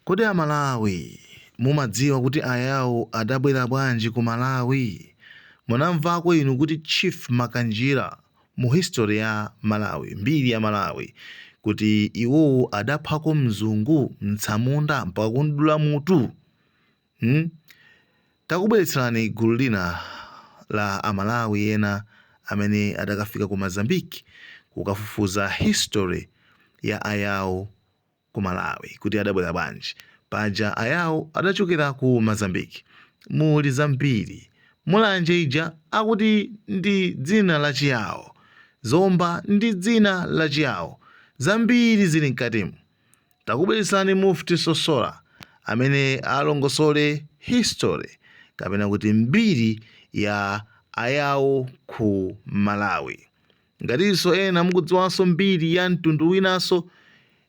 Kodi a Malawi mumadziwa kuti ayao adabwera bwanji ku Malawi? Munamvako inu kuti Chief Makanjira mu history ya Malawi, mbiri ya Malawi, kuti iwowo adaphako mzungu, mtsamunda mpaka kumdula mutu? Hmm? Takubweretserani gulu lina la a Malawi ena amene adakafika ku Mozambique kukafufuza history ya ayao. ku malawi kuti adabwera bwanji paja ayao adachokera ku mozambique muli zambiri mulanje ija akuti ndi dzina la chiyao zomba ndi dzina la chiyao zambiri zili mkatimu takubweretserani mufti sosola amene alongosole history kapena kuti mbiri ya ayao ku malawi Ngatinso ena mukudziwanso mbiri ya mtundu winanso,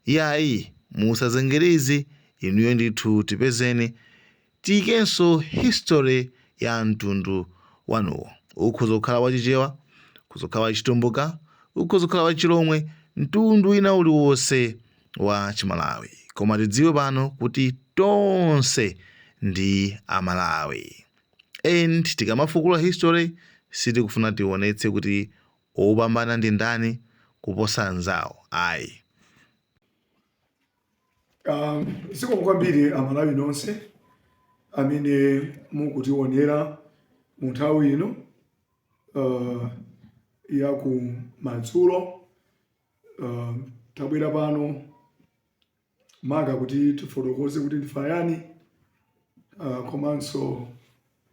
yayi musazengereze inuyo ndithu tipezeni tiikenso history ya mtundu wanuwo. Ukhoza kukhala wa Chichewa, ukhoza kukhala wa Chitumbuka, ukhoza kukhala wa Chilomwe, mtundu wina uliwonse wa Chimalawi. Koma tidziwe pano kuti tonse ndi Amalawi. and tikamafukula history sitikufuna tionetse kuti opambana ndi ndani kuposa anzawo ayi Um, zikomo kwambiri amalawi nonse amene mukutionera mu nthawi ino uh, ya ku madzulo uh, tabwera pano maka kuti tifotokoze kuti ndife ayani ah, komanso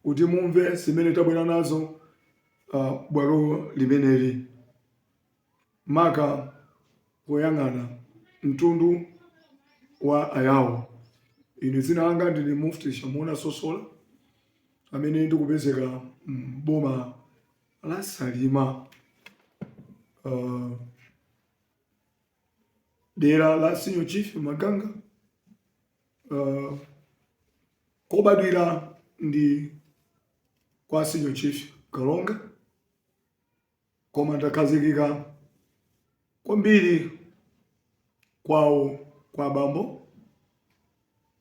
kuti mumve zimene tabwera nazo ah, bwalo limeneli maka poyang'ana mtundu wa ayawo ine dzina langa ndine mufti shamuna sosola amene ndikupezeka m'boma la salima Ah, dera la Senior Chief Maganga uh, kobadwira ndi kwa Senior Chief Kalonga koma ndakhazikika kwambiri kwawo kwa bambo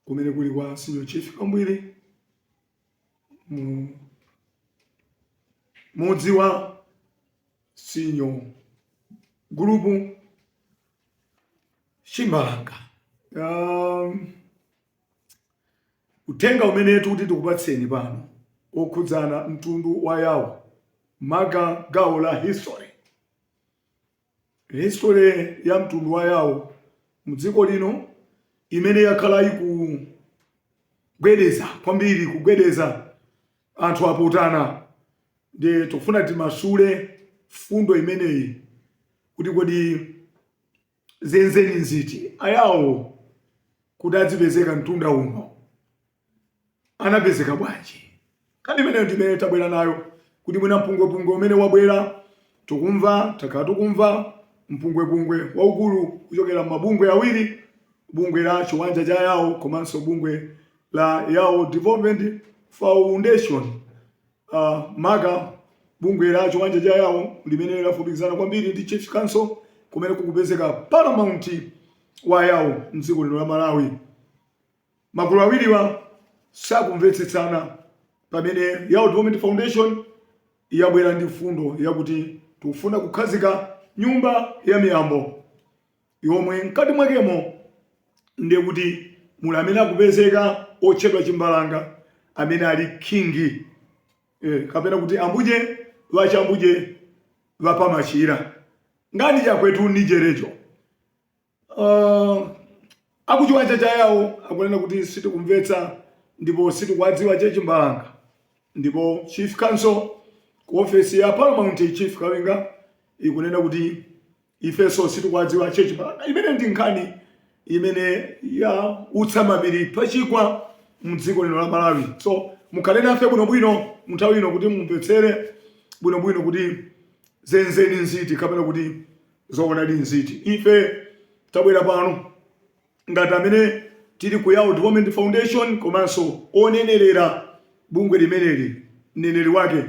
kumene kuli kwa Senior Chief Kambwiri mu mudzi wa senior group chimbalanga um, uthenga umene tikuti tikupatseni pano okhudzana mtundu wa yawo maka gawo la history Histori ya mtundu wa Yao mdziko lino imene yakhala ikugwedeza kwambiri kugwedeza anthu apotana nde tikufuna timasule mfundo imeneyi kuti kodi zenzeni nziti ayawo kuti adzipezeka mtunda uno anapezeka bwanji? Nkhani imeneyo ndi imene tabwera nayo kuti mwina mpungwepungwe umene wabwera tikumva takhala tikumva mpungwepungwe waukulu kuchokera mabungwe awiri bungwe la chiwanja cha yawo komanso bungwe la yawo development foundation uh, maka bungwe la chiwanja cha yawo limene lafupikizana kwambiri ndi chief council kumene kukupezeka paramount wa yawo mdziko lino la malawi Magulu awiriwa sakumvetsetsana pamene Yao Development Foundation yabwera ndi mfundo yakuti tikufuna kukhazika nyumba ya miyambo yomwe mkati mwakemo ndiye kuti muli amene akupezeka otchedwa Chimbalanga amene ali king eh, kapena kuti ambuje ŵachambuje ŵapamachila ngani jakwetu ni jelejo Uh, akuchiwanja cha yawo akunena kuti sitikumvetsa ndipo sitikuwadziwa che chimbalanga ndipo chief council ku ofesi ya paramount chief kawinga ikunena kuti ifeso sitikuwadziwa che chimbalanga imene ndi nkhani imene yautsa mapiri pachigwa mdziko lino la malawi so mukhale nafe bwinobwino munthawi ino kuti mumvetsere bwinobwino kuti zenzeni nziti kapena kuti Zoonadi nziti? Ife tabwera pano ngati amene tili ku Yao Development Foundation komanso onenerera bungwe limeneli, mneneri wake,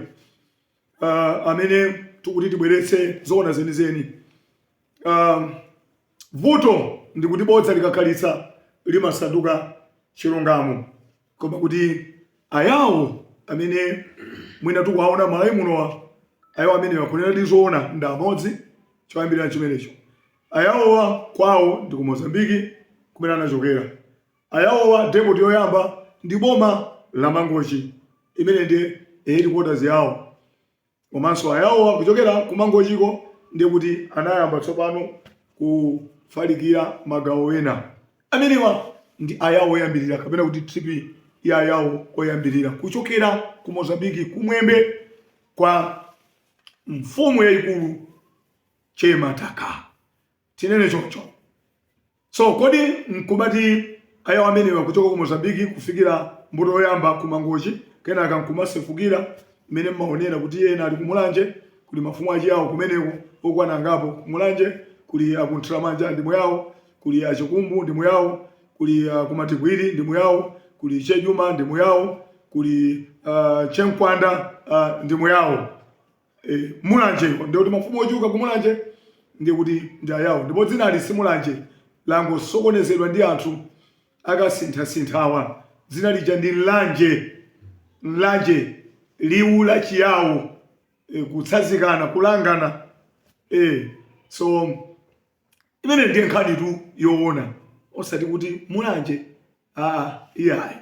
uh, amene tikuti tibweretse zoona zenizeni. Uh, vuto ndikuti bodza likakhalitsa limasanduka chilungamo. koma kuti ayawo amene mwina tikuwaona malawi munowa ayawo amenewa kunena zoona ndi amodzi choyambirira chimenecho ayawowa kwawo ndi ku mozambiki kumene anachokera ayawowa depoti yoyamba ndi boma la mangochi imene ndi headquarters yawo komanso ayawowa kuchokera kumangochiko ndiye kuti anayamba tsopano kufalikira magawo ena amenewa ndi ayawo oyambirira kapena kuti tripi ya ayawo oyambirira kuchokera ku mozambiki kumwembe kwa mfumu yayikulu chemataka tinene choncho So kodi nkumati ayawo amenewa kuchoka ku Mozambique kufikira mbuto yoyamba ku Mangochi kenaka nkumasefukira mmene mmaonera kuti ena ali ku Mulanje kuli mafumu achiyawo kumeneko okwana angapo ku Mulanje kuli a ku Nthiramanja ndi Muyawo kuli a Chikumbu ndi Muyawo kuli a ku Matipwiri ndi Muyawo kuli Chejuma ndi Muyawo kuli a Chemkanda ndi Muyawo Eh, mulanje nde kuti mafumu ochuluka kumulanje ndi kuti ndi ayawo ndipo dzinali simulanje langosokonezedwa ndi anthu akasinthasinthawa dzina lija ndi mlanje mlanje liwu la chiyawo e, kutsazikana kulangana e, so imene ndiye nkhanitu yoona osati kuti mulanje Ah, iyayi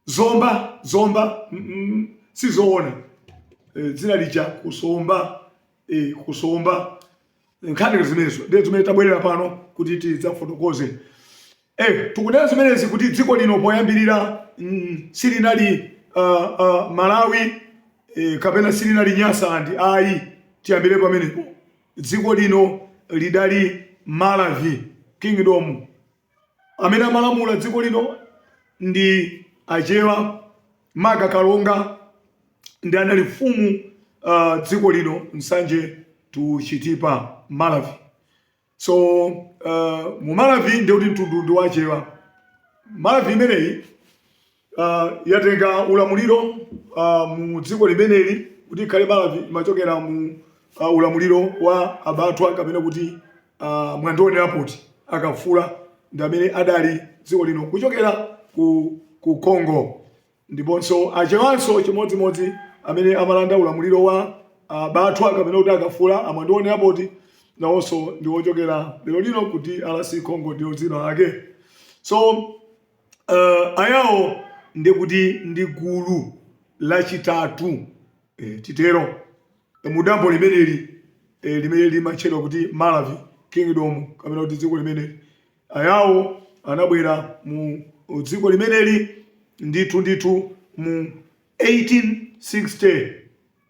zomba zomba mm -mm, sizoona e, eh, dzina lija kusomba e, kusomba nkhani zimenezo ndiye zimene tabwerera pano kuti tidzafotokoze e, tikunena zimenezi kuti dziko lino poyambirira mm, silinali uh, uh, Malawi e, kapena silinali Nyasaland ayi tiyambire pamenepo dziko lino lidali Maravi kingdom Amene amalamula dziko lino ndi Achewa maka Kalonga ndi anali mfumu uh, dziko lino Nsanje to Chitipa Maravi. So uh, mu Maravi ndiye kuti mtundu ndi wachewa. Maravi imeneyi uh, yatenga ulamuliro uh, mu dziko limeneli kuti ikhale Maravi imachokera mu uh, ulamuliro wa abatwa kapena kuti uh, Mwandionerapati akafula ndi amene adali dziko lino kuchokera ku, ku Congo ndiponso achewanso chimodzimodzi amene amalanda ulamuliro wa uh, batwa kapena kuti akafula amwandionerapati nawonso ndi wochokera lero lino kuti DRC congo ndiyo dzina lake so Ayawo ndiye kuti ndi gulu lachitatu, titero, mu dambo limeneli limene limatchedwa kuti Maravi Kingdom, kapena kuti dziko limeneli. Ayawo anabwera mu dziko limeneli ndithu ndithu mu 1860.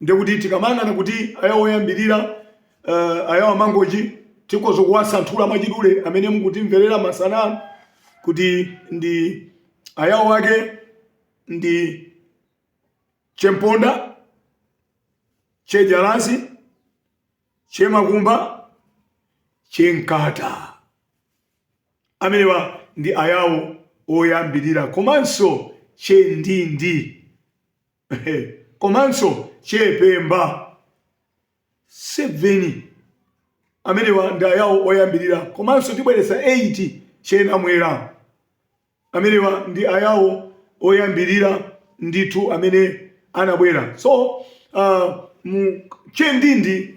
Ndekuti tikamayang'ana kuti ayawo oyambirira uh, ayawo amangochi tikhoza kuwasanthula mwachidule amene mukutimverera masana ano kuti ndi ayawo ake ndi chemponda chejalasi chemalumba chemkata amenewa ndi ayawo oyambirira komanso chendindi komanso Chepemba 7 amenewa ndi ayawo oyambirira komanso tibweretsa 8 che Namwera amenewa ndi ayawo oyambirira ndithu amene anabwera so uh, mu che Ndindi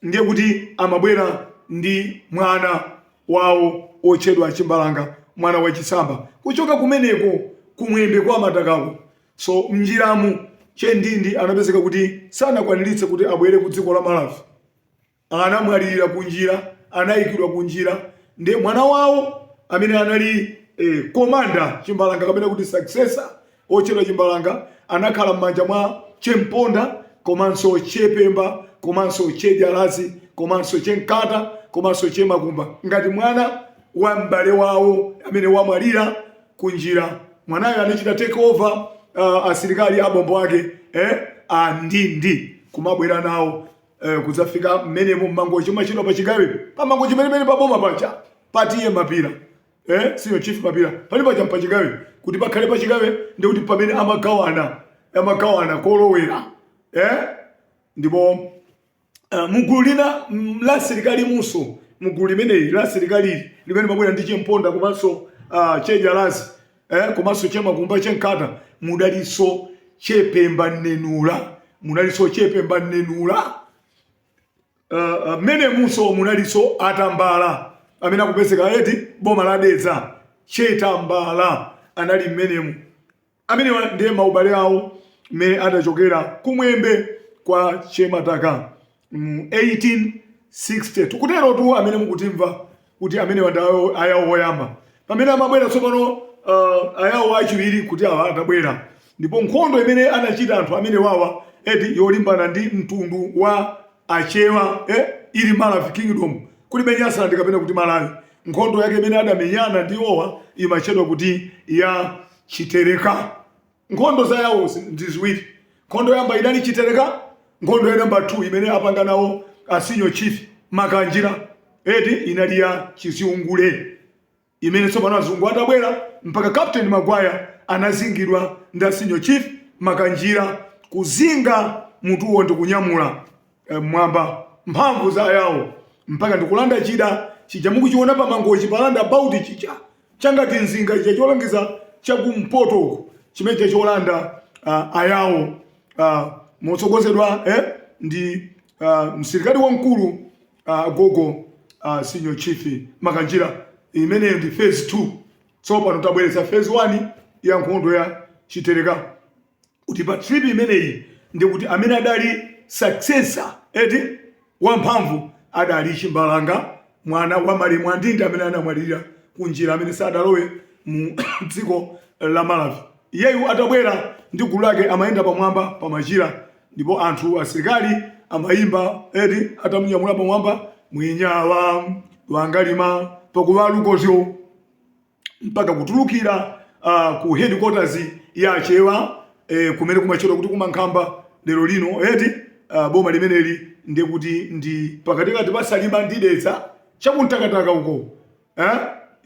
ndiye kuti amabwera ndi mwana wawo otchedwa chimbalanga mwana wachisamba kuchoka kumeneko kumwembe kwa matakako so mnjiramu chendindi anapezeka kuti sanakwaniritse kuti abwere ku dziko la malawi anamwalirira kunjira anayikidwa kunjira ndiye mwana wawo amene anali eh, komanda chimbalanga kapena kuti successor otchedwa Chimbalanga anakhala m'manja mwa Che Mponda komanso Che Pemba komanso Che Jalazi komanso Che Nkata komanso Che Makumba ngati mwana wa m'bale wawo amene wamwalira kunjira. Mwanayo anachita take over uh, asilikali abombo ake eh, a Ndindi kumabwera nawo eh, kudzafika mmenemo mmangochi matchedwa pa chigawe pa mangochi penipeni pa boma paja pa TA mapira eh senior chief mapira pali paja mpachigawe kuti pakhale pachigawe ndi kuti pamene amagawana amagawana kolowera eh ndipo uh, mugulu lina mm, la asilikali muso mugulu limeneli la asilikali limene mabwera ndi chemponda komanso uh, chejalazi eh komanso chemakumba chenkata mudaliso chepemba nenula uh, mmenemunso munaliso atambala amene akupezeka eti boma la Dedza chetambala anali mmenemu amene ndiye maubale awo mmene adachokera kumwembe kwa chemataka mu 1862 kuterotu amene mukutimva kuti amenewa ndi awo- ayawo woyamba pamene amabwera tsopano uh, ayawo achiwiri kuti awa atabwera ndipo nkhondo imene anachita anthu amenewawa eti yolimbana ndi mtundu wa achewa eh, ili maravi kingdom kulibe nyasaland kapena kuti malawi nkhondo yake imene adamenyana ndi iwowa imatchedwa kuti ya chitereka Nkhondo za yawo ndi ziwiri. Nkhondo yoyamba inali Chitereka, nkhondo ya namba 2 imene apanga nawo a senior chief Makanjira eti inali ya Chiziungule imene tsopano azungu atabwera mpaka Captain Magwaya anazingidwa ndi a senior chief Makanjira kuzinga mutuwo ndi kunyamula eh, mmwamba mphamvu za yawo mpaka ndikulanda chida chija mukuchiona pa Mangochi pa roundabout chija changati mzinga chija cholangiza chakumpoto uku chimene chija cholanda uh, ayawo uh, motsogozedwa eh, ndi uh, msirikali wamkulu uh, gogo uh, senior chief makanjira imeneyo ndi phase 2 tsopano tabweretsa phase 1 ya nkhondo ya chitereka kuti pa trip imeneyi ndi kuti amene adali successor eti wamphamvu adali Chimbalanga mwana wa malemu a Ndindi amene anamwalirira kunjira amene sadalowe mu dziko la Malawi. Iyeyu atabwera ndi gulu lake amayenda pamwamba pa machira ndipo anthu asilikali amayimba eti atamunyamula pamwamba mwinyawa wangalima pakuwalukozyo mpaka kutulukira uh, ku headquarters ya Achewa eh, kumene kumatchedwa kuti kumankhamba lero lino eti uh, boma limeneli ndiye kuti ndi pakatikati pa Salima ndi Dedza chakuntakataka uko eh?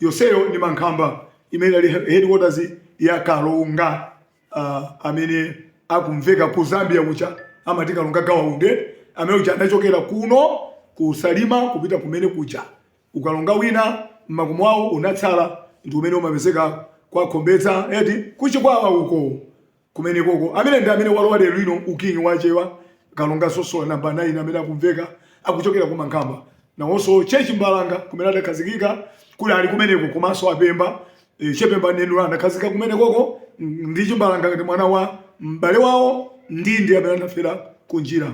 yoseyo ndi mankhamba imene inali headquarters ya Kalonga uh, amene akumveka ku Zambia kuja amati Kalonga Gawa Undi amene uja anachokera kuno ku Salima kupita kumene kuja Ukalonga wina m'makomo awo unatsala, ndi umene umapezeka kwa Khombedza, eti, ku Chikwawa uko. Kumene koko. Amene ndi amene walowa lero lino uking'i wa Achewa, Kalonga Sosola Number 9 amene akumveka akuchokera ku Mankhamba. Nawonso Che Chimbalanga kumene adakhazikika kunali kumeneko komanso a Pemba, eh, Che Pemba Mnenula anakhazikika kumene koko ndi Chimbalanga ngati mwana wa m'bale wawo, Ndindi amene anafera kunjira.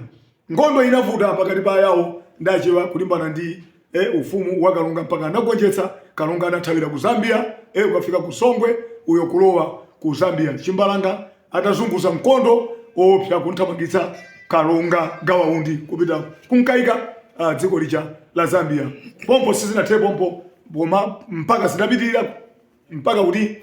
Nkhondo inavuta pakati pa Ayawo ndi Achewa kulimbana ndi e, ufumu wa Kalonga mpaka anagonjetsa. Kalonga anathawira ku Zambia e, ukafika ku Songwe uyo kulowa ku Zambia Chimbalanga atazunguza nkhondo yoopsa kumthamangitsa Kalonga Gawa Undi kupita kunkaika a, dziko lija la Zambia. Pompo sizinathere pompo koma mpaka zinapitirira mpaka kuti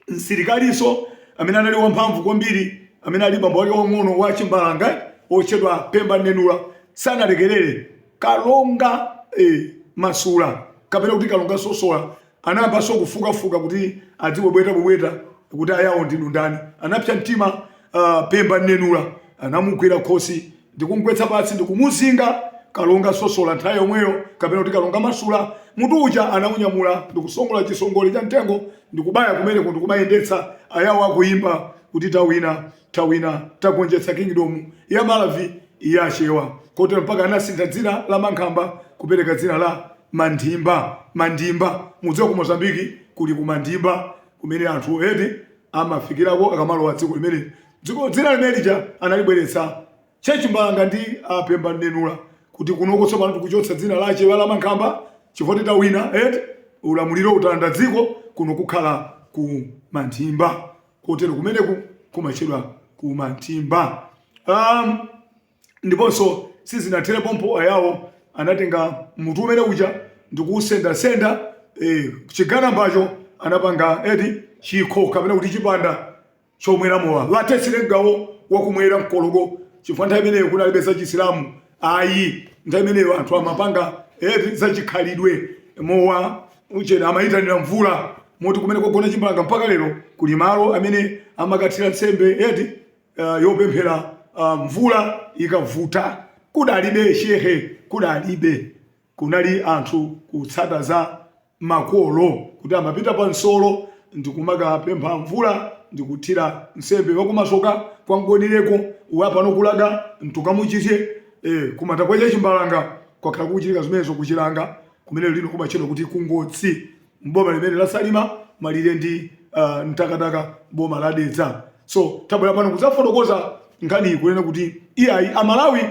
msirikalinso amene anali wamphamvu kwambiri amene ali bambo wake wang'ono wa chimbalanga wotchedwa pemba mnenula sanalekerere kalonga eh, masula kapena kuti kalonga sosola anayambanso kufukafuka kuti adzibwebwetabwebweta kuti ayawo ndinu ndani anapsa mtima uh, pemba mnenula anamugwira khosi ndi kumgwetsa pansi ndi kumuzinga Kalonga Sosola nthawi yomweyo, kapena kuti Kalonga Masula, mutu uja anaunyamula ndi kusongola chisongole cha mtengo ndi kubaya kumeneko ndi kumayendetsa, Ayawo akuimba kuti, Tawina, tawina, tagonjetsa Kingdom ya Maravi ya Achewa. Kotero mpaka anasintha dzina la Mankhamba kupereka dzina la Mandimba, Mandimba. Mukudziwa ku Mozambique kuli ku Mandimba kumene anthu eti amafikirako akamalowa dziko limeneli. Dzina limene lija analibweretsa che Chimbalanga ndi a Pemba Mnenula kuti kunoko tsopano tikuchotsa dzina la Achewa la Mankhamba chifukwa tawina eti ulamuliro talanda dziko kuno kukhala ku Manthimba kotero kumeneku kumatchedwa ku Manthimba um, ndiponso sizinathere pompo ayawo anatenga mutu umene uja ndikuusendasenda eh, chigazacho anapanga eti chikho kapena kuti chipanda chomwera mowa latetsire gawo wakumwera mkologo chifukwa nthawi imeneyo kudalibe za chisilamu ayi nthawi imeneyo anthu amapanga eh, za chikhalidwe mowa uchera amayitanira mvula moti kumene kogona chimbanga mpaka lero kuli malo amene amakathirira nsembe eti uh, yopemphera uh, mvula ikavuta kudalibe shehe kudalibe Kunali anthu kutsata za makolo kuti amapita pa nsolo ndi kumakapempha mvula ndi kuthira nsembe wa kumasoka kwa mgonireko wa pano kulaga ntukamuchize e kumanda kwa chachimbalanga kwakhala kukuchitika zimenezo ku chilanga kumene lino kumatchedwa kuti ku ngotsi m'boma limeneli la salima malire ndi uh, mtakataka boma la dedza so tabwera pano kudzafotokoza nkhaniyi kunena kuti iyayi amalawi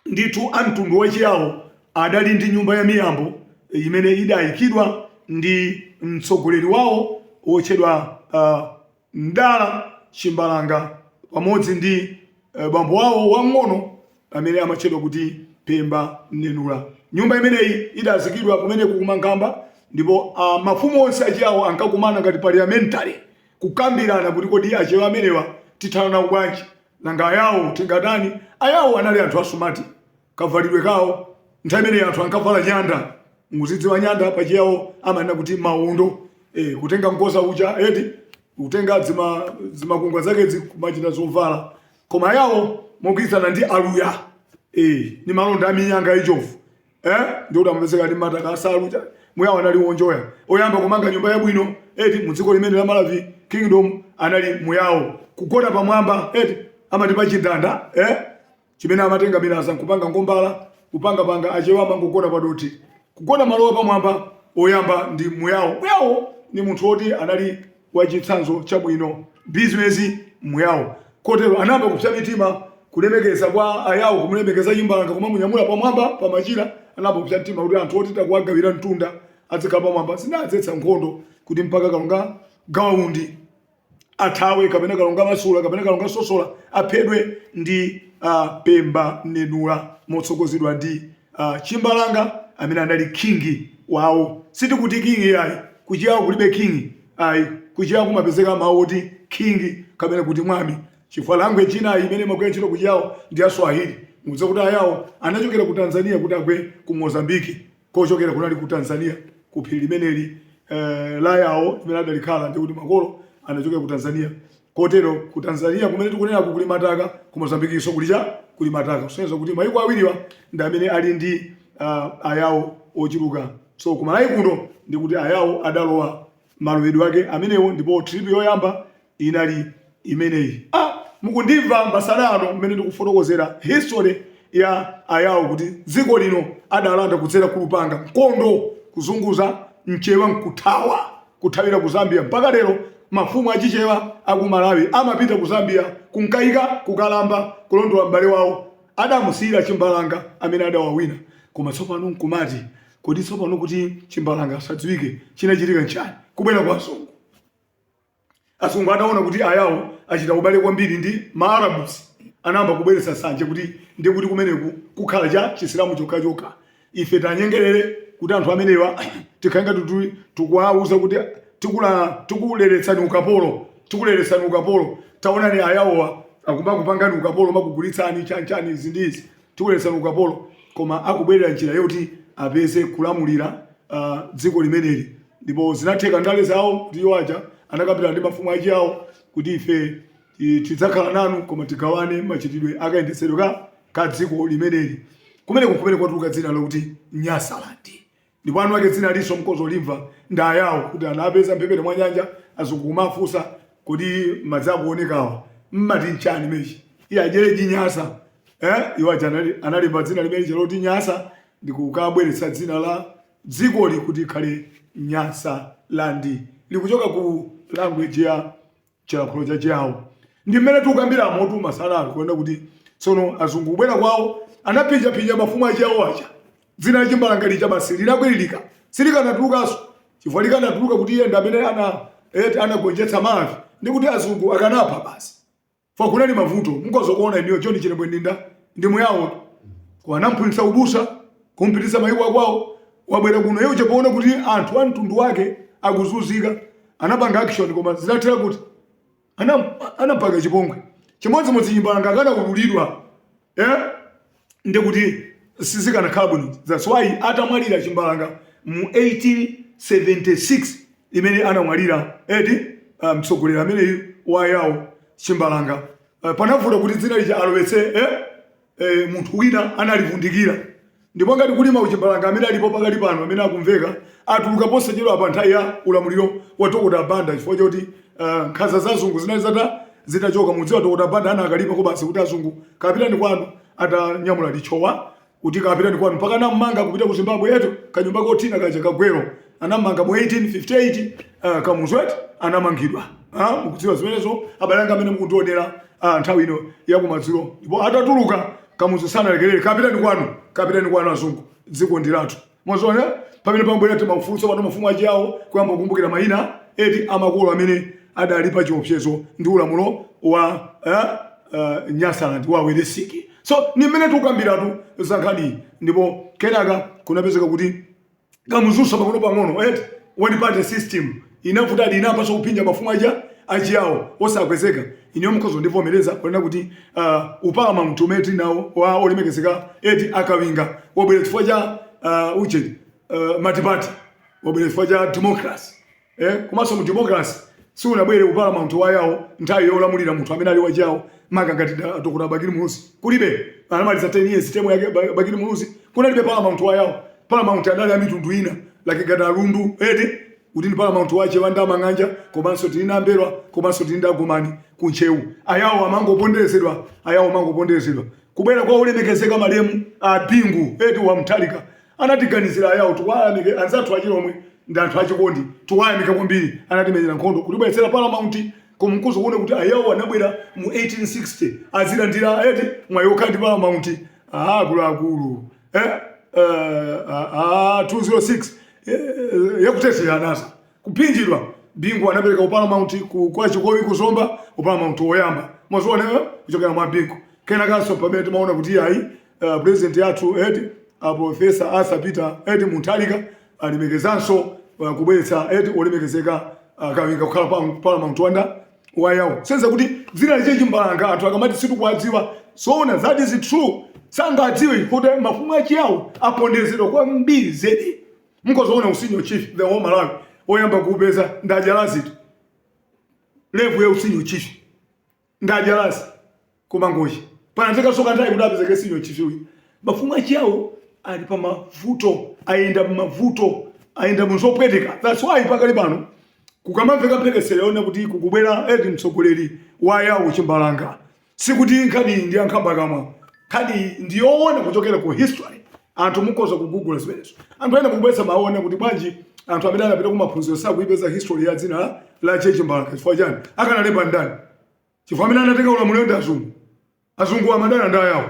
Ndithu a mtundu wa Chiyao adali ndi nyumba ya miyambo imene idaikidwa ndi mtsogoleri wawo wotchedwa Mdala Chimbalanga pamodzi ndi bambo awo wamng'ono amene amatchedwa kuti Pemba Nenula. Nyumba imeneyi idazikidwa kumeneko ku Mankhamba ndipo mafumu onse a Chiyao ankakumana ngati parliamentary kukambirana kuti kodi Achewa amenewa tithana nawo bwanji. Nanga Ayao tingatani? Ayao anali anthu asumati kavalidwe kawo. Nthawi imeneyi anthu ankavala nyanda, mukuzidziwa nyanda pa Chiyao amanena kuti maondo. Eh, kutenga mkoza uja eti kutenga dzimakungwa zakedzi kumachita zovala. Koma Ayao mogwirizana ndi Aluya eh, ndi malonda a minyanga ya njovu. eh ndikuti amapezeka ndi mataka a nsalu ja muyawo anali wonjoya oyamba kumanga nyumba yabwino eti mu dziko limeneli la Malawi kingdom anali muyawo kugona pamwamba eti amati pa chindanda eh chimene amatenga milaza nkupanga ngombala kupanga panga achewa amangogona pa dothi kugona malowa pamwamba oyamba ndi muyawo muyawo ni munthu woti anali wa chitsanzo chabwino bizinesi muyao kotero anayamba kupsa mitima kulemekeza kwa ayawo kumulemekeza chimbalanga kumamunyamula pamwamba pamachira anayamba kupsa mtima kuti anthu oti takuwagawira mtunda adzikhala pamwamba zinadzetsa nkhondo kuti mpaka kalonga gawa undi athawe kapena kalonga masula kapena kalonga sosola aphedwe ndi uh, pemba nenula motsogozedwa ndi uh, chimbalanga amene anali king wawo sitikuti king ayi kuchiyawo kulibe king ayi kuchiyawo kumapezeka mawu oti king kapena kuti mwami chifukwa language china imene imagwira ntchito kuchiyawo ndi ya swahili mukudziwa kuti ayawo anachokera ku tanzania kuti agwe ku mozambiki kochokera kunali ku tanzania ku phiri limeneli eh, la yawo limene adalikhala ndi kuti makolo anachokera ku tanzania Kotero ku Tanzania kumene tikunenaku kuli mataka, ku Mozambiquenso kuli cha? Kuli mataka kusonyeza kuti maiko awiriwa ndi amene ali ndi uh, ayawo ochuluka. So ku Malawi kuno ndi kuti ayawo adalowa malowedwe ake amenewo, ndipo trip yoyamba inali imeneyi. Ah, mukundimva masana ano mmene ndikufotokozera history ya ayawo kuti dziko lino adalanda kudzera kulupanga, mkondo, kuzunguza, mchewa nkuthawa. kuthawira ku Zambia mpaka lero mafumu achichewa aku Malawi amapita ku Zambia kunkaika kukalamba kulondola m'bale wawo adamusiyira chimbalanga amene adawawina koma tsopano nkumati kodi tsopano kuti chimbalanga asadziwike chinachitika nchani? Kubwera kwa azungu. Azungu ataona kuti Ayao achita ubale kwambiri ndi ma Arabs, anayamba kubweretsa nsanje kuti ndi kuti kumeneku kukhala cha Chisilamu chokhachokha. Ife tanyengerere kuti anthu amenewa tikhale ngati kuti tikuwauza kuti tikula tikuleretsani ukapolo, tikuleretsani ukapolo. Taonani Ayaowa akumakupangani ukapolo, makugulitsani chani chani izi ndi izi. Tikuleretsani ukapolo, koma akubwerera njira yoti apeze kulamulira dziko limeneli. Ndipo zinatheka ndale zawo kuti iwo aja anakambirana ndi mafumu achiyawo kuti ife tidzakhala nanu, koma tigawane machitidwe a kayendetsedwe ka ka dziko limeneli. Kumeneko n'kumene kwatuluka dzina lokuti Nyasaland. Ndipo eni ake dzinalinso mukhoza kulimva ndi ayao kuti anapeza mphepete mwa nyanja azungu kumafunsa kodi madzi akuonekawa mmati nchani imechi iye adyeleji nyasa eh iwo aja anali analemba dzina limene lija loti nyasa ndikukabweretsa dzina la dzikoli kuti ikhale Nyasaland likuchoka ku language ya chilankhulo cha Chiao. Ndi mmene tikukambiramotu masana ano kuona kuti tsono azungu kubwera kwawo anaphinjaphinja mafumu a Chiao aja. Dzina la chimbalanga lija basi linakwiririka, silikanatulukanso chifukwa likanatuluka kuti iye ndi amene ana eti anagonjetsa Malawi ndi kuti azungu akanapha basi. Fwa kunali mavuto mukhoza kuona inuyo John Chilembwe Ndinda ndi muyawo kwa anamphunzitsa ubusa kumpititsa mayiko akwawo wabwera kuno iye uja poona kuti anthu a mtundu wake akuzunzika anapanga action koma zinathera kuti anampanga chipongwe chimodzimodzi chimbalanga akanaululidwa eh? ndi kuti sizikanakhala bwino that's why atamwalira chimbalanga mu 1876 imene anamwalira eti ah, mtsogoleri um, ameneyu wayawo chimbalanga uh, panavuta kuti dzina lija alowetse eh? eh, munthu wina analivundikira ndipo ngati kuli mauchimbalanga amene alipo pakali pano amene akumveka atuluka posachedwa pa nthawi ya ulamuliro wa dokota banda chifukwa choti uh, nkhanza za azungu zinali zata zitachoka mudziwa dokota banda anakalipako basi kuti azungu kapitani kwanu atanyamula lichowa kuti kapitani kwanu mpaka anam'manga kupita ku zimbabwe yetu kanyumba kothina kaja ka Gwero anam'manga mu 1858 uh, kamuzu eti anamangidwa Ah, mukudziwa zimenezo abale anga amene mukundionera ah, nthawi ino yakumadzulo ndipo atatuluka kamuzu sanalekerere kapitani kwanu kapitani kwanu azungu dziko ndi lathu mwaziona pamene pamabwera timafunso pano mafumu achiyawo kuyamba kukumbukira mayina eti amakolo amene adali pa chiopsezo ndi ulamulo wa eh, eh, nyasaland wa Welensky so ni mmene tikukambiratu za nkhaniyi ndipo kenaka kunapezeka kuti kamuzunso pang'ono pang'ono eti one party system inavuta eti inayambanso kuphinja mafumu aja achiyawo osakwezeka inuyo mukhoza kundivomereza kunena kuti uh, uparamount umene tili nawo wa olemekezeka eti a Kawinga wabwera chifukwa cha uh, uje uh, multiparty wabwera chifukwa cha democracy eh, komanso mu democracy siunabwere uparamount wa ayawo nthawi yolamulira munthu amene ali wachiyawo maka ngati da- dokota bakili muluzi kulibe anamaliza 10 years term yake Ba- bakili muluzi kunalibe paramount wa ayawo paramount adali a mitundu ina yake ngati a Lundu eti kuti ndi paramount wa achewa ndi amang'anja komanso tili ndi a M'mbelwa komanso tili ndi a Gomani ku Ntcheu ayawo amangoponderezedwa ayawo amangoponderezedwa kubwera kwa olemekezeka malemu a bingu eti wa Mutharika Anatiganizira ayao tiwayamike anzathu achilomwe ndi anthu achikondi tiwayamike kwambiri anatimenyera nkhondo kutibweretsera paramount koma mukhoza kuona kuti ayao anabwera mu 1860 azilandira eti mwayi okhala ndi paramount ah akuluakulu eh, eh, ah, ah, 206 eh, eh, yakutesera anasa Kuphinjidwa, Bingu anapereka u Paramount ku kwa Chikowi ku Zomba, u Paramount oyamba mwaziona eh, kuchokera mwa Bingu. Kenakanso pamene timaona kuti ayi uh, president yathu eti uh, Professor Arthur Peter eti Mutharika alemekezanso uh, kubweretsa eti olemekezeka uh, kawinga kukhala pa Paramount wanda wa ayawo senza kuti dzina la Che Chimbalanga anthu akamati sitikuwadziwa zoona that is true sangadziwe kuti mafumu achiyawo apondezedwa kwambiri zedi Mukhoza kuona u senior chief the whole Malawi oyamba kuupeza ndi a Jalasi eti level ya u senior chief ndi a Jalasi ku Mangochi panatenganso kanthawi kuti apezeke senior chief uyu mafumu achiyawo ali pa mavuto ayenda mmavuto ayenda muzopweteka that's why pakali pano kukamamveka mphekesera yonena kuti kukubwera eti mtsogoleri wa ayawo chimbalanga Sikuti nkhaniyi ndi ya nkhambakamwa. Nkhaniyi ndi yoona kuchokera ku history. Anthu mukhoza kugugula zimenezo. Anthu ena mukubweretsa mawu onena kuti bwanji anthu amene anapita kumaphunziro sakuipeza history ya dzina la, la Che Chimbalanga. Chifukwa chani? Akanalemba ndani? Chifukwa amene anatenga ulamuliro ndi azungu. Azungu amadana ndi ayawo.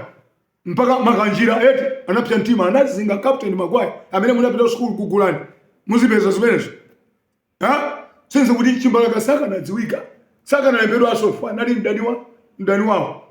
Mpaka Makanjira eti anapsa mtima anazinga Captain Maguire amene munapita ku sukulu gugulani. Muzipeza zimenezo. Ha? Kusonyeza kuti Chimbalanga sakanadziwika, sakanalembedwanso chifukwa anali mdani wa mdani wawo.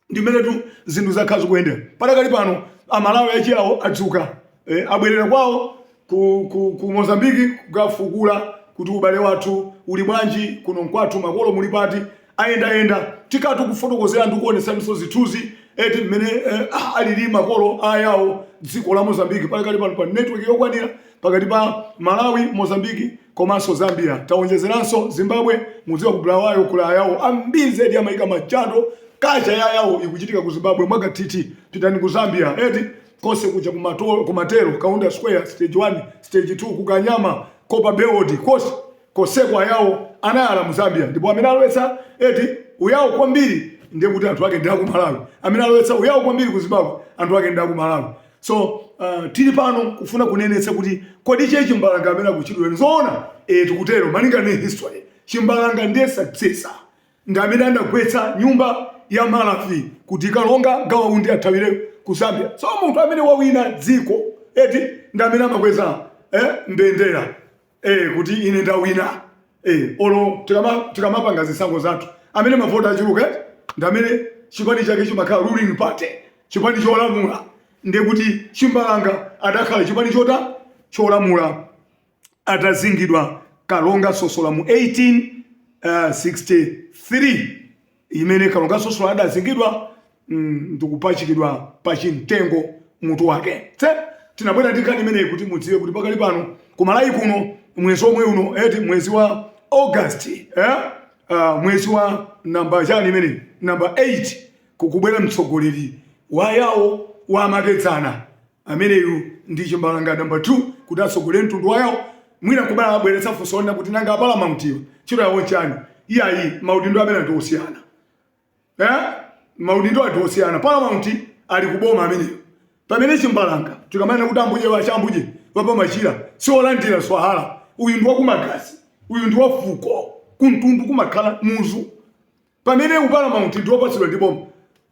Ndi mmenetu zinthu zakhala zikuyendera. Padakali pano Amalawi achiyawo adzuka, eh, abwerera kwawo ku, ku, ku Mozambique kukafukula kuti ubale wathu uli bwanji, kuno nkwathu, makolo muli pati, ayendayenda tikati kufotokozera ndi kuonesanso zithunzi eti mmene eh, ah, alili makolo ayawo dziko la mozambiki padakali pano pa network yokwanira pakati pa malawi mozambiki komanso zambia taonjezeranso zimbabwe mudziwa ku bulawayo kuli ayawo ambiri zedi amayika machando culture ya ayawo ikuchitika ku zimbabwe mwakathithi pitani ku zambia eti konse kuja ku matero kaunda square stage 1 stage 2 ku kanyama copperbelt konse Konseko ayao anayala mu Zambia ndipo amene alowetsa eti uyao kwambiri ndiye kuti anthu ake ndi aku Malawi. Amene alowetsa uyao kwambiri ku Zimbabwe anthu ake ndi aku Malawi. So uh, tili pano kufuna kunenetsa kuti kodi che chimbalanga amene akutchulidwa nzoona eh, tikutero malinga ndi history chimbalanga ndiye successor ndi amene anagwetsa nyumba ya Malawi kuti kalonga gawa undi athawire ku Zambia. So munthu amene wawina dziko eti ndi amene amakweza eh, mbendera eh kuti ine ndawina eh olo tikama tikamapanga zisankho zathu amene mavoti achuluka ndi amene chipani chake chimakhala ruling party chipani cholamula ndiye kuti chimbalanga adakhala chipani chota cholamula atazingidwa kalonga sosola mu 1863 imene kalonga sosola adazingidwa mm, ndikupachikidwa pa chimtengo mutu wake so tinabwera ndi nkhani imeneyi kuti mudziwe kuti pakali pano ku malawi kuno mwezi omwe uno eti mwezi wa august eh? uh, mwezi wa namba chani imeneyi namba 8 kukubwera mtsogoleri wa yawo wamakedzana Ameneyu ndi chimbalanga number 2 kuti atsogolere mtundu wa yao, mwina nkubala abweretsa funso lonena kuti nanga a Paramountwa ntchito yawo nchani? Iyayi maudindo amenewa ndi osiyana eeh maudindowa ndi osiyana Paramount ali ku boma ameneyo pamene chimbalanga tikamanena kuti ambuje wa chambuje wa pa machila si olandira swahara uyu ndi wa ku magazi uyu ndi wa fuko ku mtundu kumakhala muzu Pamene u Paramount ndi opatsidwa ndi boma,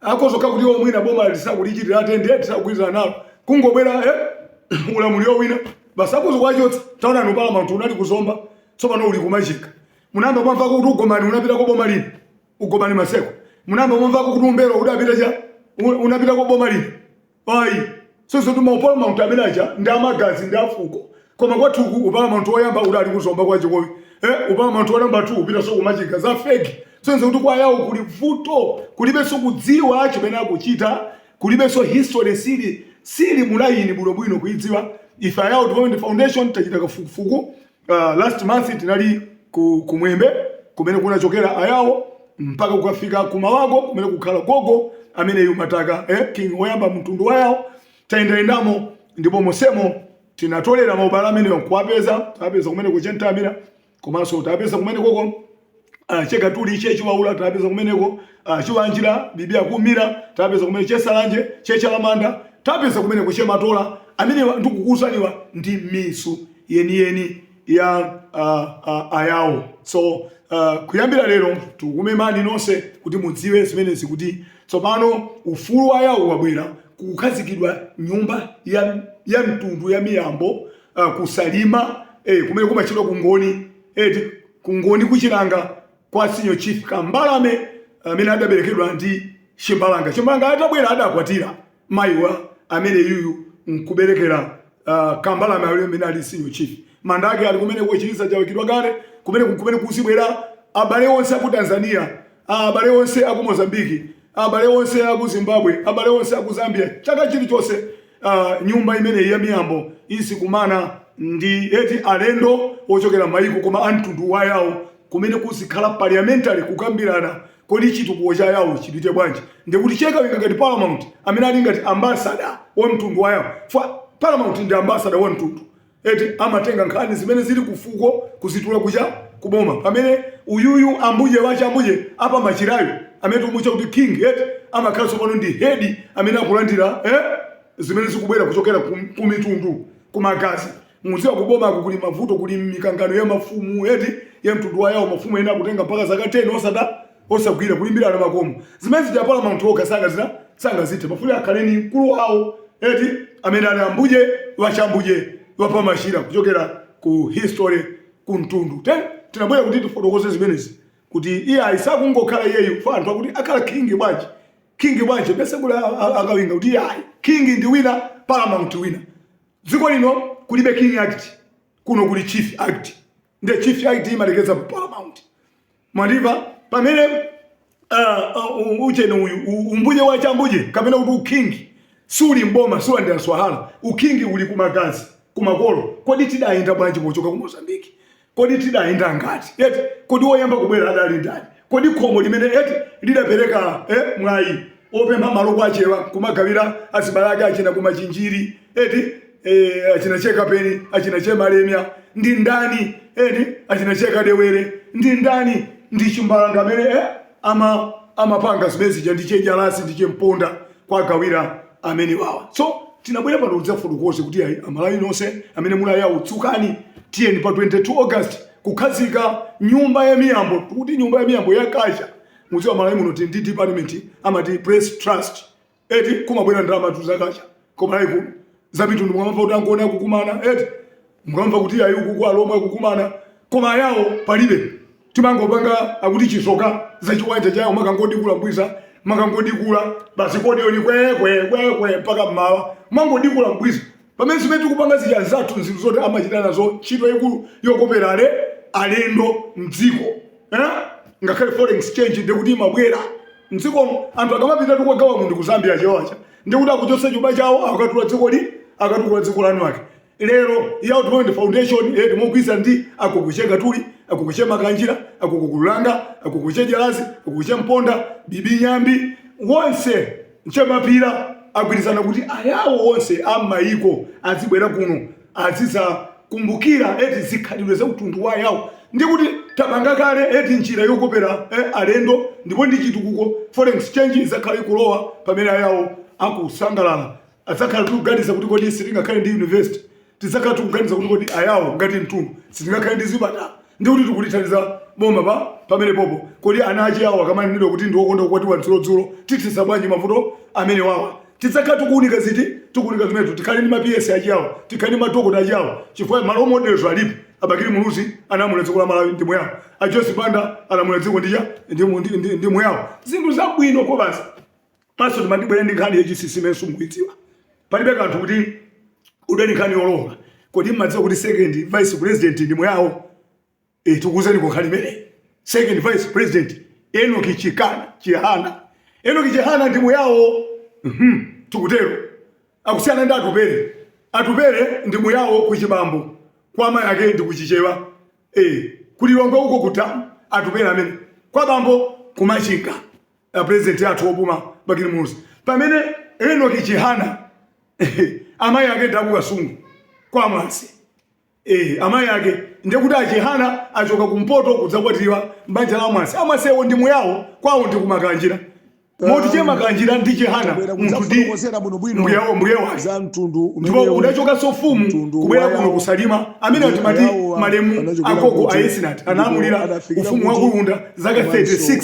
akhoza kukhala kuti iwo mwina boma lisakulichitira attend, lisakugwirizana nalo, kungobwera eh, ulamuliro wina, basi akhoza kuwachotsa. Taonani u Paramount unali ku Zomba, tsopano uli ku Machinga. Munayamba mwamvako kuti ugomani unapita kwa boma lina? Ugomani Maseko. Munayamba mwamvako kuti uM'mbelwa udapita cha? U- Unapita kwa boma lina? Ayi. Kusonyeza kuti mau Paramount amene aja ndi a magazi ndi a fuko. Koma kwathuku uparamount woyamba udali ku Zomba kwa Chikowi. Eh uparamount wa number 2 upitanso ku Machinga. Za fake. Kusonyeza kuti kwa yawo kuli vuto. Kulibenso kudziwa chimene akuchita. Kulibenso history sili sili mu layini bwinobwino kuidziwa. Ife a Yao Development Foundation tachita kafukufuku Uh, last month tinali ku, kumwembe kumene kunachokera ayawo mpaka kukafika kumawago kumene kukhala gogo ameneyu mataka eh, king oyamba mtundu wayawo tayendamo ndipo mosemo tinatolera maubale ameneyo kuwapeza tapeza kumene kuchentamira komanso tapeza kumene koko Ah, chekatuli chechiwawula tapeza kumeneko ah, chiwanjira bibi akumira tapeza kumene chesalanje chechalamanda tapeza kumeneko chematola amenewa ndikukuuzaniwa ndi mizu yeniyeni ya ah, ah, ayawo so ah, kuyambira lero tikumemani nonse kuti mudziwe zimenezi kuti tsopano ufulu wa ayawo wabwera kukhazikidwa nyumba ya, ya mtundu ya miyambo ah, kusalima eh, kumene kumatchedwa kungoni eti kungoni kuchilanga kwa senior chief kambalame amene adaberekedwa ndi chimbalanga chimbalanga atabwera adakwatira mayiwa amene yuyu nkuberekera uh, kambalame amene ali senior chief manda ake ali kumene kuchiliza chawikidwa kale kumene kumene kuzibwera abale onse aku tanzania a abale onse aku Mozambique, abale onse aku Zimbabwe, abale onse aku Zambia, chaka chilichonse uh, nyumba imeneyi ya miyambo izikumana ndi eti alendo ochokera mayiko koma amtundu wa yawo kumene kuzikhala parliamentary kukambirana kodi chitukuko cha yawo chipite bwanji ndikuti chekawinga ngati paramount amene ali ngati ambasada wa mtundu wa yawo paramount ndi ambasada wa mtundu eti amatenga nkhani zimene zili kufuko kuzitula kucha kuboma pamene uyuyu ambuje wachambuje apa machirayo amene tikumutcha kuti king eti amakhala tsopano ndi head amene akulandira eh, zimene zikubwera kuchokera kum- kumitundu kumagazi mudziwa kubomako kuli mavuto kuli mikangano ya mafumu eti ya mtundu wa yawo mafumu ena akutenga mpaka zaka 10 osada osagwira kulimbirana makomo zimene zija paramount okha sangazita sangazithe pafuna akhale ni mkulu wawo eti amene ali ambuje wachambuje wapamashira kuchokera ku history ku mtundu nde tinabwera kuti tifotokoze zimenezi kuti iye ayisakungokhala iyeyu pa anthu akuti akhala king bwanji king bwanji pese kuti akawinga kuti iye ayi king ndi wina paramount wina dziko lino kulibe king act kuno kuli chief act nde chief act imalekeza pa paramount mwandimva pamene uh, uh, ucheno uyu u- umbuje wa chambuje kapena kuti ukhingi suli mboma siulandira swahala ukhingi uli kumagazi kumakolo kodi tidayenda bwanji pochoka ku Mozambique kodi tidayenda ngati eti kodi woyamba kubwera adali ndani kodi khomo limene eti lidapereka eh, mwayi opempha malo kwa achewa kumagawira azibale ake achina kumachinjiri eti e, achina chekapeni achina chemalemya ndi ndani eti achina chekadewere ndi ndani ndi chimbalanga amene eh, ama amapanga zimene zija ndi chenjalasi ndi chemponda kwagawira amene wawa so tinabwera pano kudzafotokoze kuti ayi amalawi nonse amene muli ayawo dzukani tiyeni pa 22 august kukhazika nyumba ya miyambo tikuti nyumba ya miyambo ya culture mudziwa malawi muno tili ndi department amati press trust eti kumabwera ndalamatu za culture koma like za mitundu mukamva kuti angoni akukumana eti mukamva kuti ayi ukuku alomwe akukumana koma ayawo palibe timangopanga akuti chisoka zachiwanja chawo makangodikula mbwiza makangodikula basi kodioni kwekwekwe mpaka mmawa mangodikula mbwiza pamene zimene tikupanga zija anzathu nzinthu zoti amachita nazo ntchito yayikulu yokopera ale alendo mdziko eh? ngakhale foreign exchange ndikuti imabwera mdzikomo anthu akamapita eti kwa gawa undi ku zambia achewa aja ndikuti akuchotsa chuma chawo akatula dziko li akatula dziko lanu ake lero yao development foundation eti mogwirizana ndi akukuche katuli akukuche makanjira akukukulanga akukuche jalasi akukuche mponda bibi nyambi wonse Nchemapira agwirizana kuti ayawo onse a mmaiko adzibwera kuno adzidzakumbukira eti zikhalidwe za utundu wa ayawo ndi kuti tapanga kale eti njira yokopera eh, alendo ndipo ndi chitukuko foreign exchange idzakhala ikulowa pamene ayawo akusangalala adzakhala tikuganiza kuti kodi sitingakhale ndi university tidzakhala tikuganiza kuti kodi ayawo ngati mtundu sitingakhale ndi zipatala ndi kuti tikulithandiza boma pa pamenepopo kodi ana achiyawo akamanenedwa kuti ndi okonda kukwatiwa dzulo dzulo tithetsa bwanji mavuto amene wawa tidzakhala tikuunika eti tikuunika zimenezo tikhale ndi ma PS achiyawo tikhale ndi madokota achiyawo chifukwa ma role models alipo abakiri muluzi analamula dziko la malawi ndi muyawo a joyce banda analamula dziko ndija ndi, ndi, ndi, ndi muyawo zinthu zabwino kobasa Maso timandibwere ndi nkhani yachinsinsi imene simukuidziwa. Palibe kanthu kuti udwe ndi nkhani yolonga. Kodi mmadziwa kuti second vice president ndi muyao? Eh, tikuwuzeniko nkhani imeneyi. Second vice president Enoki Chikana Chihana. Enoki Chihana ndi muyao. Mhm, tikutero. Akusiyana ndi Atupele. Atupele ndi muyao kuchibambo. Kwa amayi ake ndi ku Chichewa. Eh, ku Lilongwe uko ku Damu. Atupele amene. Kwa bambo ku Machinga. a president athu opuma bakili muluzi pamene enoki chihana amayi ake ndakukasungu kwa mwase eh, amayi ake ndekuti achihana achoka kumpoto kudzakwatiwa mbanja la mwase amwasewo ndi muyawo kwawo ndi kumakanjira moti che makanjira ndi chihana munthu ndi mbuyawo mbuye wake za mtundu ndipo udachokanso ufumu kubwera kuno kusalima amene timati malemu agogo a esinati analamulira ufumu wa kulunda zaka 36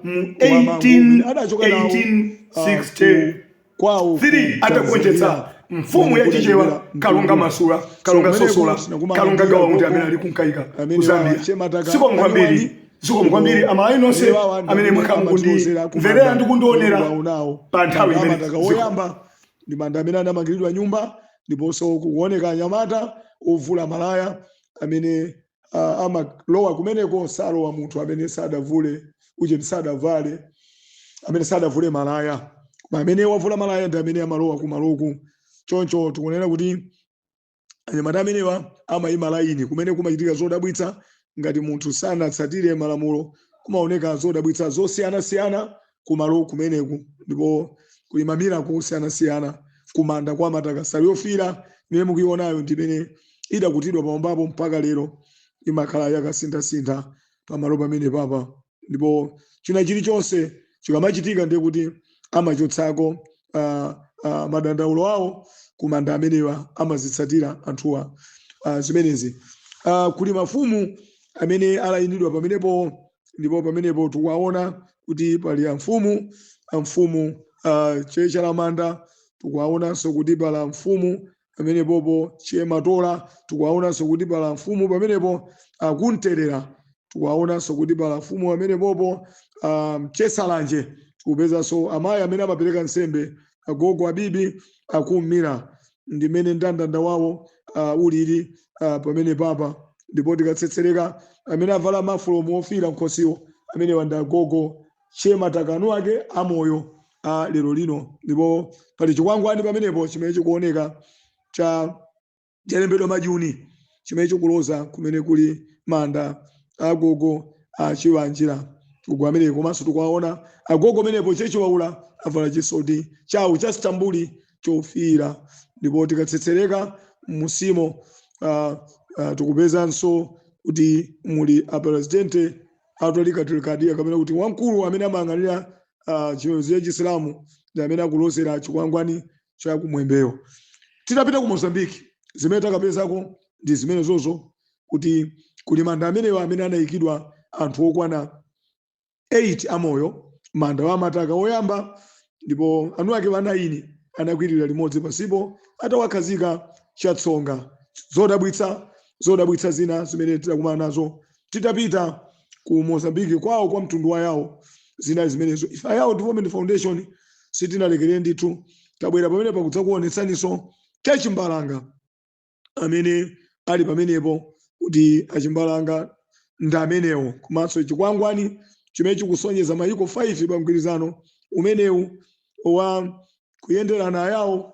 mu 1860 3 atagonjetsa mfumu ya chichewa kalonga masula kalonga sosola kalonga gawa muti amene ali kunkaika ku zambia zikomo kwambiri zikomo kwambiri amayi nonse amene mwakhala mukundimverera ndi kundionera pa nthawi imene Manda ziko- woyamba ndi manda amene anamangiridwa nyumba ndiponso kuoneka anyamata ovula malaya amene ah, amalowa kumeneko salowa munthu amene sadavule uje sadavale amene sadavule malaya koma amene wavula malaya ndi amene amalowa kumaloku choncho tikuonera kuti anyamata amenewa amayima laini kumene kumachitika zodabwitsa ngati munthu sanatsatire malamulo kumaoneka zodabwitsa zosiyanasiyana kumalo kumeneku ndipo kuli mamirako osiyanasiyana kumanda kwa mataka nsalu yofiira imene mukuionayo ndi imene idakutidwa pamwambapo mpaka lero imakhala akusinthasintha pamalo pamenepapa ndipo china chilichonse chikamachitika ndiye kuti amachosako ah, ah, madandaulo awo kumanda amenewa amazitsatira anthuwa ah, zimenezi Ah, kuli mafumu amene alayinidwa pamenepo ndipo pamenepo tikuwaona kuti pali amfumu amfumu uh, che chalamanda tikuwaonanso kuti pali amfumu pamenepopo che matola tikuwaonanso kuti pali amfumu pamenepo akumterera tikuwaonanso kuti pali amfumu pamenepopo um, che salanje tikupezanso amayi amene amapereka nsembe agogo abibi akumira ndi mmene ndandanda wawo uh, ulili uh, pamenepapa ndipo tikatsetsereka amene avala mafulomu ofiira m'khosiwo amenewa ndi agogo che mataka nuake amoyo a lero lino ndipo pali chikwangwani pamenepo chimene chikuoneka cha chalembedwa majuni chimene chikuloza kumene kuli manda agogo a chiwanjira uko amene komanso tikuwaona agogo amenepo che chiwaula avala chisoti chawo cha stambuli chofiira ndipo tikatsetsereka munsimo uh, uh, tikupezanso kuti muli apresidente a tolikatili kadiriya kapena kuti wamkulu amene amayang'anira uh, chipembedzo cha chisilamu ndi amene akulozera chikwangwani cha kumwembeyo titapita ku mozambiki zimene takapezako ndi zimenezozo kuti kuli manda amenewa amene anayikidwa anthu okwana 8 amoyo manda wa mataka woyamba ndipo anu ake a 9 anakwirira limodzi pansipo atawakhazika chatsonga zodabwitsa zodabwitsa zina zimene tidakumana nazo titapita ku mozambique kwawo kwa mtundu wa yawo zinali zimenezo ife a yawo development foundation sitinalekerere ndithu tabwera pamene pakudzakuonetsaniso chachimbalanga amene ali pamenepo kuti achimbalanga ndi amenewo komanso chikwangwani chimene chikusonyeza mayiko 5 pa mgwirizano umenewu wa kuyenderana ayawo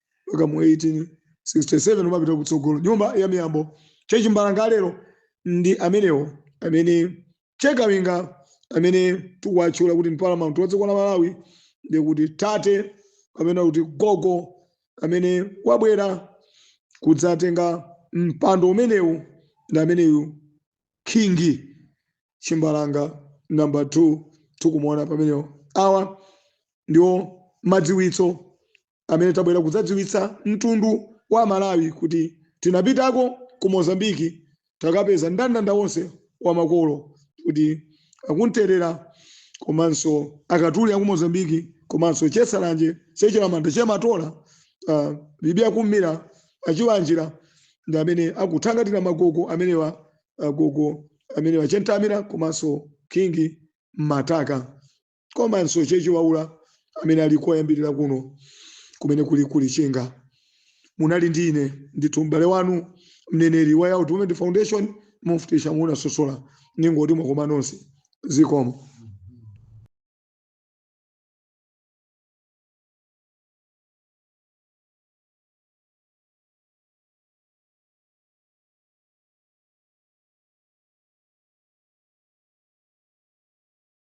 mpaka mu 1867 umapita kutsogolo nyumba ya miyambo chachimbalanga lero ndi amenewo amene chekawinga amene tikuwatchula kuti paramount wa dziko la malawi ndi kuti tate kapena kuti gogo amene wabwera kudzatenga mpando umenewu ndi ameneyu king chimbalanga number 2 tikumuona pamenewo awa ndiwo madziwitso amene tabwera kudzadziwitsa mtundu wa Amalawi kuti tinapitako ku Mozambique takapeza ndandanda wonse wa makolo kuti akunterera komanso akatuli aku Mozambique komanso chesalanje chechilamanda chematola uh, bibia kummira achiwanjira ndi amene akuthangatira magogo amenewa agogo amenewa chentamira komanso king mataka komanso chechiwaula amene ali koyambirira kuno kumene kuli ku Lichinga munali ndi ine ndithu m'bale wanu mneneri wa Yao Development Foundation mufti Shamuna Sosola ningoti mwakoma nonse zikomo